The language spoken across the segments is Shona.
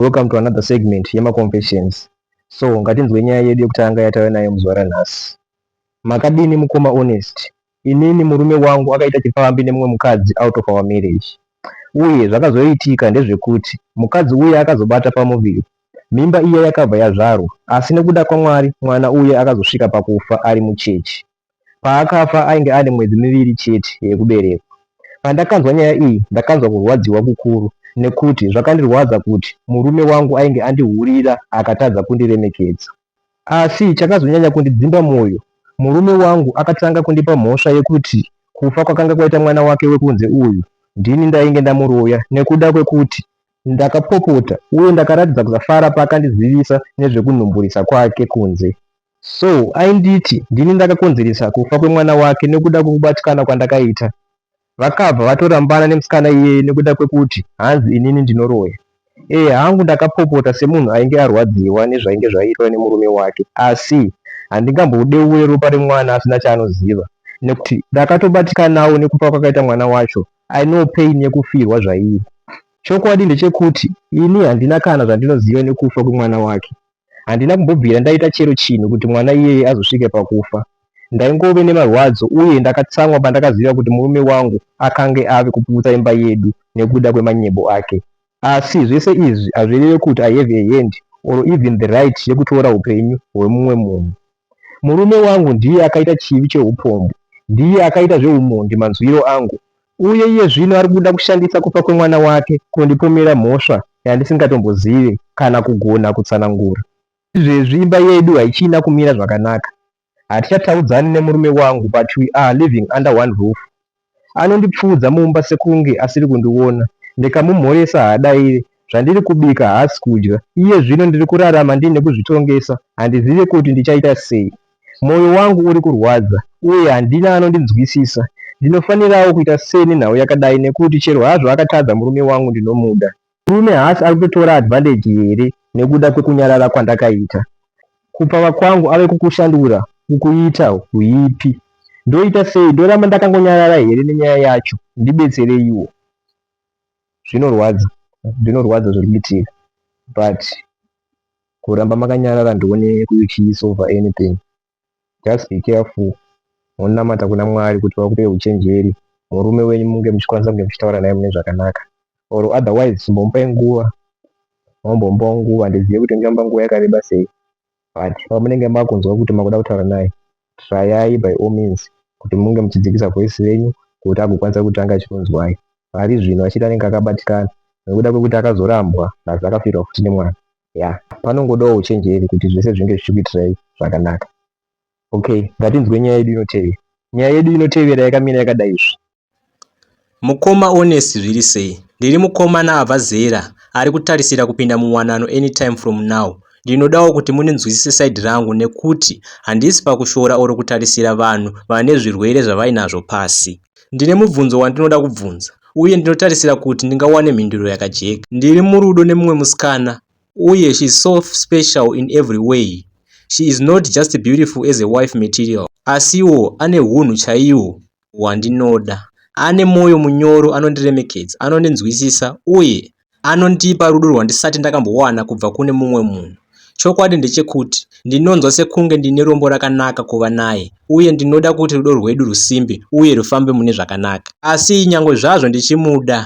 Welcome to another segment yema confessions. So ngatinzwe nyaya yedu yekutanga yatauya nayo muzuva ranhasi. Makadini mukoma Honest? Inini murume wangu akaita chipfambi nemumwe mukadzi out of our marriage. Uye zvakazoitika ndezvekuti mukadzi uye akazobata pamuviri. Mimba iya yakabva yazvarwa asi nekuda kwaMwari mwana uye akazosvika pakufa ari muchechi. Paakafa ainge ane mwedzi miviri chete yekuberekwa. Pandakanzwa nyaya iyi ndakanzwa kurwadziwa kukuru nekuti zvakandirwadza kuti murume wangu ainge andihurira akatadza kundiremekedza. Asi chakazonyanya kundidzimba moyo murume wangu akatanga kundipa mhosva yekuti kufa kwakanga kwaita mwana wake wekunze uyu ndini ndainge ndamuroya nekuda kwekuti Ndakapopota uye ndakaratidza kusafara paakandizivisa nezvekunhumburisa kwake kunze. So ainditi ndini ndakakonzeresa kufa kwemwana wake nekuda kwekubatikana kwandakaita. Vakabva vatorambana nemusikana iyeye nekuda kwekuti hanzi inini ndinoroya. Ehe hangu ndakapopota semunhu ainge arwadziwa nezvainge zvaitwa nemurume wake asi handingambodeure ropa remwana asina chaanoziva nekuti ndakatobatikanawo nekufa kwakaita mwana wacho I know pain yekufirwa zvairi. Chokwadi ndechekuti ini handina kana zvandinoziva nekufa kwemwana wake. Handina kumbobvira ndaita chero chinhu kuti mwana iyeye azosvike pakufa. Ndaingove nemarwadzo uye ndakatsamwa pandakaziva kuti murume wangu akange ave kuputsa imba yedu nekuda kwemanyebo ake. Asi zvese izvi hazvireve kuti I have a hand or even the right yekutora hupenyu hwemumwe munhu. Murume wangu ndiye akaita chivi cheupombwe, ndiye akaita zveumhondi manzwiro angu, uye iye zvino ari kuda kushandisa kufa kwemwana wake kundipomera mhosva yandisingatombozivi kana kugona kutsanangura. Izvezvi imba yedu haichina kumira zvakanaka. Hatichataudzani nemurume wangu but we are living under one roof. Anondipfuudza mumba sekunge asiri kundiona ndikamumhoresa haadaire zvandiri kubika haasi kudya. Iye zvino ndiri kurarama ndiine kuzvitongesa handizive kuti ndichaita sei. Moyo wangu uri kurwadza uye handina anondinzwisisa. Ndinofanirawo kuita sei nenhau yakadai nekuti chero hazvo akatadza murume wangu ndinomuda. Murume haasi ari kutotora advantage here nekuda kwekunyarara kwandakaita? Kupfava kwangu ave kukushandura ukuita huipi. Ndoita sei? Ndoramba ndakangonyarara here nenyaya yacho? Ndibetsereiwo. Zvinorwadza, zvinorwadza zviri kuitika but kuramba makanyarara ndione kuti chiisova anything. just be careful monamata kuna Mwari kuti vakupe huchenjeri murume wenyu munge muchikwanisa kunge muchitaura naye mune zvakanaka or otherwise chimbomupai nguva mambomupawo nguva ndizive kuti ndingamupa nguva yakareba sei but pamunenge makunzwa kuti makuda kutaura naye trayai by all means kuti munge muchidzikisa voice renyu kuti agokwanisa kuti ange achikunzwai pari zvino achiti anenge akabatikana nekuda kwekuti akazorambwa plus akafirwa futi nemwana yeah panongodawo uchenjeri kuti zvese zvinge zvichikuitirai zvakanaka okay ngatinzwe nyaya yedu inotevera nyaya yedu inotevera yakamira yakadai izvi mukoma onesi zviri sei ndiri mukomana abva zera ari kutarisira kupinda muwanano anytime from now ndinodawo kuti muninzwisise saidi rangu nekuti handisi pakushora or kutarisira vanhu vane zvirwere zvavainazvo pasi Ndine mubvunzo wandinoda kubvunza uye ndinotarisira kuti ndingawane mhinduro yakajeka. Ndiri murudo nemumwe musikana uye she is so special in every way. She is not just beautiful as a wife material asiwo ane hunhu chaiwo hwandinoda. Ane moyo munyoro anondiremekedza, anondinzwisisa uye Anondipa rudo rwandisati ndakambowana kubva kune mumwe munhu. Chokwadi ndechekuti ndinonzwa sekunge ndine rombo rakanaka kuva naye uye ndinoda kuti rudo rwedu rusimbe uye rufambe mune zvakanaka. Asi nyangwe zvazvo ndichimuda,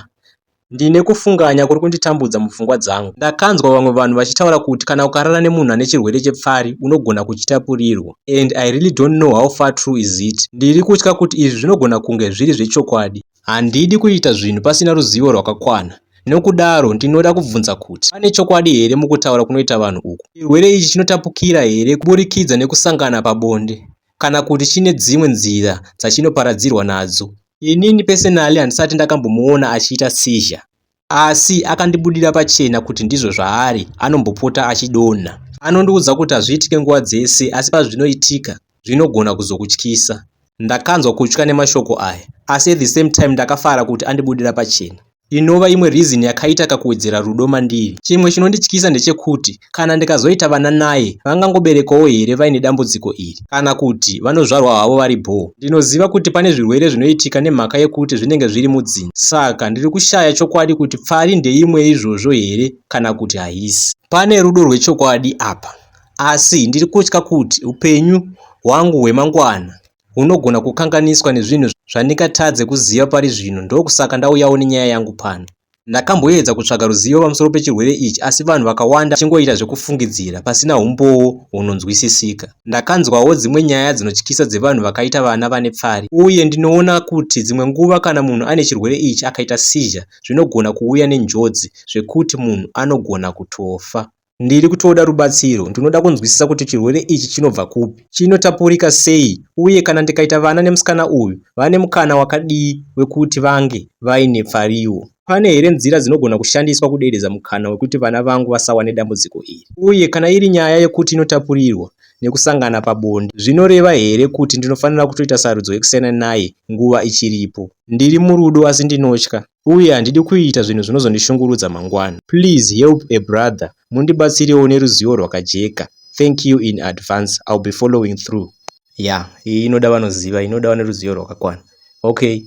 ndine kufunganya kuri kunditambudza mupfungwa dzangu. Ndakanzwa vamwe vanhu vachitaura kuti kana ukarara nemunhu ane chirwere chepfari unogona kuchitapurirwa and I really don't know how far true is it. Ndiri kutya kuti izvi zvinogona kunge zviri zvechokwadi. Handidi kuita zvinhu pasina ruzivo rwakakwana. Nokudaro, ndinoda kubvunza kuti, Pane chokwadi here mukutaura kunoita vanhu uku? Chirwere ichi chinotapukira here kuburikidza nekusangana pabonde, kana kuti chine dzimwe nzira dzachinoparadzirwa nadzo? Inini pese-nally handisati ndakambomuona achiita seizure. Asi akandibudira pachena kuti ndizvo zvaari, anombopota achidonha. Anondiudza kuti hazviitike nguva dzese asi pazvinoitika, zvinogona kuzokutyisa. Ndakanzwa kutya nemashoko aya asi at the same time ndakafara kuti andibudira pachena. Inova imwe reason yakaita kakuwedzera rudo mandiri. Chimwe chinondityisa ndechekuti Kana ndikazoita vana naye, vangangoberekwawo here vaine dambudziko iri? Kana kuti vanozvarwa havo vari bhoo? Ndinoziva kuti pane zvirwere zvinoitika nemhaka yekuti zvinenge zviri mudzinza. Saka ndiri kushaya chokwadi kuti pfari ndeimwe yeizvozvo here kana kuti haisi. Pane rudo rwechokwadi apa, asi ndiri kutya kuti upenyu hwangu hwemangwana unogona kukanganiswa nezvinhu zvandingatadze kuziva pari zvino ndokusaka ndauyawo nenyaya yangu pano ndakamboedza kutsvaga ruzivo pamusoro pechirwere ichi asi vanhu vakawanda chingoita zvekufungidzira pasina umbowo hunonzwisisika ndakanzwawo dzimwe nyaya dzinotyisa dzevanhu vakaita vana vane pfari uye ndinoona kuti dzimwe nguva kana munhu ane chirwere ichi akaita sizha zvinogona kuuya nenjodzi zvekuti munhu anogona kutofa Ndiri kutoda rubatsiro. Ndinoda kunzwisisa kuti chirwere ichi chinobva kupi, chinotapurika sei uye kana ndikaita vana nemusikana uyu, vane mukana wakadii wekuti vange vaine pfariwo. Pane here nzira dzinogona kushandiswa kuderedza mukana wekuti vana vangu vasawane dambudziko iri? Uye kana iri nyaya yekuti inotapurirwa nekusangana pabonde, zvinoreva here kuti ndinofanira kutoita sarudzo yekusiyana naye nguva ichiripo? Ndiri murudo asi ndinotya. uye handidi kuita zvinhu zvinozondishungurudza mangwana. Please help a brother mundibatsirewo neruzivo rwakajeka. Thank you in advance. I'll be following through. Yeah, iyi inoda vanoziva, inoda vane ruzivo rwakakwana. Okay,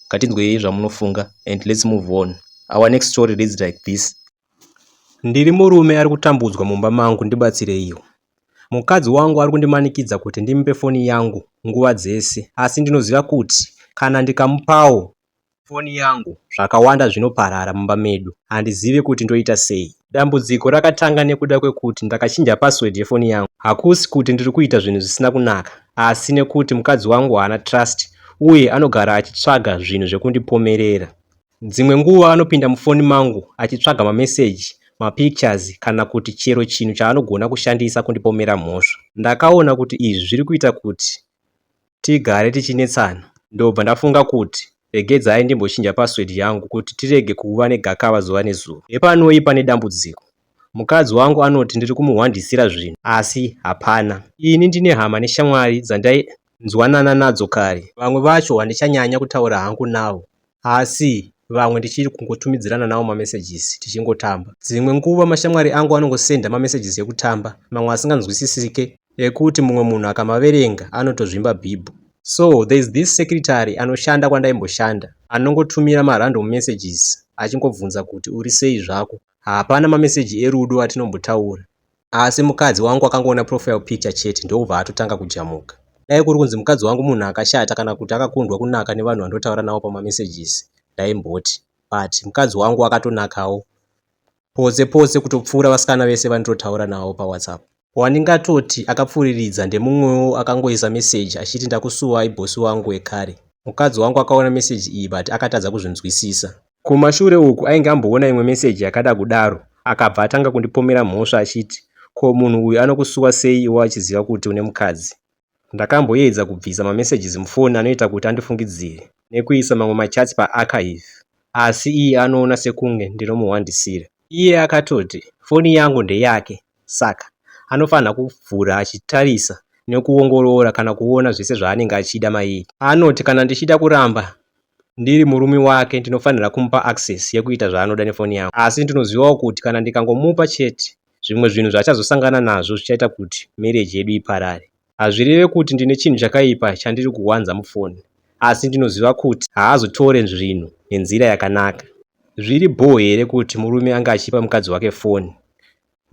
ngatinzwei zvamunofunga and let's move on. Our next story reads like this. Ndiri murume ari kutambudzwa mumba mangu ndibatsireiwo. Mukadzi wangu ari kundimanikidza kuti ndimupe foni yangu nguva dzese asi ndinoziva kuti kana ndikamupawo Foni yangu. Zvakawanda zvinoparara mumba medu handizive kuti ndoita sei. Dambudziko rakatanga nekuda kwekuti ndakachinja password yefoni yangu. Hakusi kuti ndiri kuita zvinhu zvisina kunaka asi nekuti mukadzi wangu haana trust uye anogara achitsvaga zvinhu zvekundipomerera. Dzimwe nguva anopinda mufoni mangu achitsvaga mameseji, mapictures kana kuti chero chinhu chaanogona kushandisa kundipomera mhosva. Ndakaona kuti izvi zviri kuita kuti tigare tichinetsana ndobva ndafunga kuti regedzai ndimbochinja password yangu kuti tirege kuva negakava zuva nezuva. Hepanoi pane dambudziko. Mukadzi wangu anoti ndiri kumuhwandisira zvinhu asi hapana. Ini ndine hama neshamwari dzandainzwanana nadzo kare. Vamwe vacho handichanyanya kutaura hangu navo asi vamwe ndichiri kungotumidzirana nawo mamessages tichingotamba. Dzimwe nguva mashamwari angu anongosenda mamessages ekutamba mamwe asinganzwisisike ekuti mumwe munhu akamaverenga anotozvimba bhibho. So there is this secretary anoshanda kwandaimboshanda anongotumira marandom messages achingobvunza kuti uri sei zvako. Hapana mameseji erudo atinombotaura asi mukadzi wangu akangoona profile picture chete ndokubva atotanga kujamuka. Dai kuri kunzi mukadzi wangu munhu akashata kana kuti akakundwa kunaka nevanhu vandotaura navo pamamessages ndaimboti but mukadzi wangu akatonakawo potse potse kutopfuura vasikana vese vanditotaura navo pawhatsapp. Wandingatoti akapfuriridza ndemumwewo akangoisa message achiti ndakusuwai bosi wangu wekare. Mukadzi wangu akaona message iyi but akatadza kuzvinzwisisa. Kumashure uku ainge amboona imwe meseji yakada kudaro akabva atanga kundipomera mhosva achiti ko munhu uyu anokusuwa sei iwe achiziva kuti une mukadzi. Ndakamboedza kubvisa mamessages mufoni anoita kuti andifungidzire nekuisa mamwe machats paarchive asi iye anoona sekunge ndinomuhwandisira. Iye akatoti foni yangu ndeyake saka anofanirwa kuvhura achitarisa nekuongorora kana kuona zvese zvaanenge achida mairi. Anoti kana ndichida kuramba ndiri murume wake ndinofanirwa kumupa access yekuita zvaanoda nefoni yangu asi ndinozivawo kuti kana ndikangomupa chete zvimwe zvinhu zvaachazosangana nazvo zvichaita kuti marriage yedu iparare. Hazvireve kuti ndine chinhu chakaipa chandiri kuwanza mufoni asi ndinoziva kuti haazotore zvinhu nenzira yakanaka. Zviri bhoo here kuti murume ange achipa mukadzi wake foni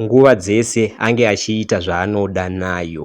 nguva dzese ange achiita zvaanoda nayo?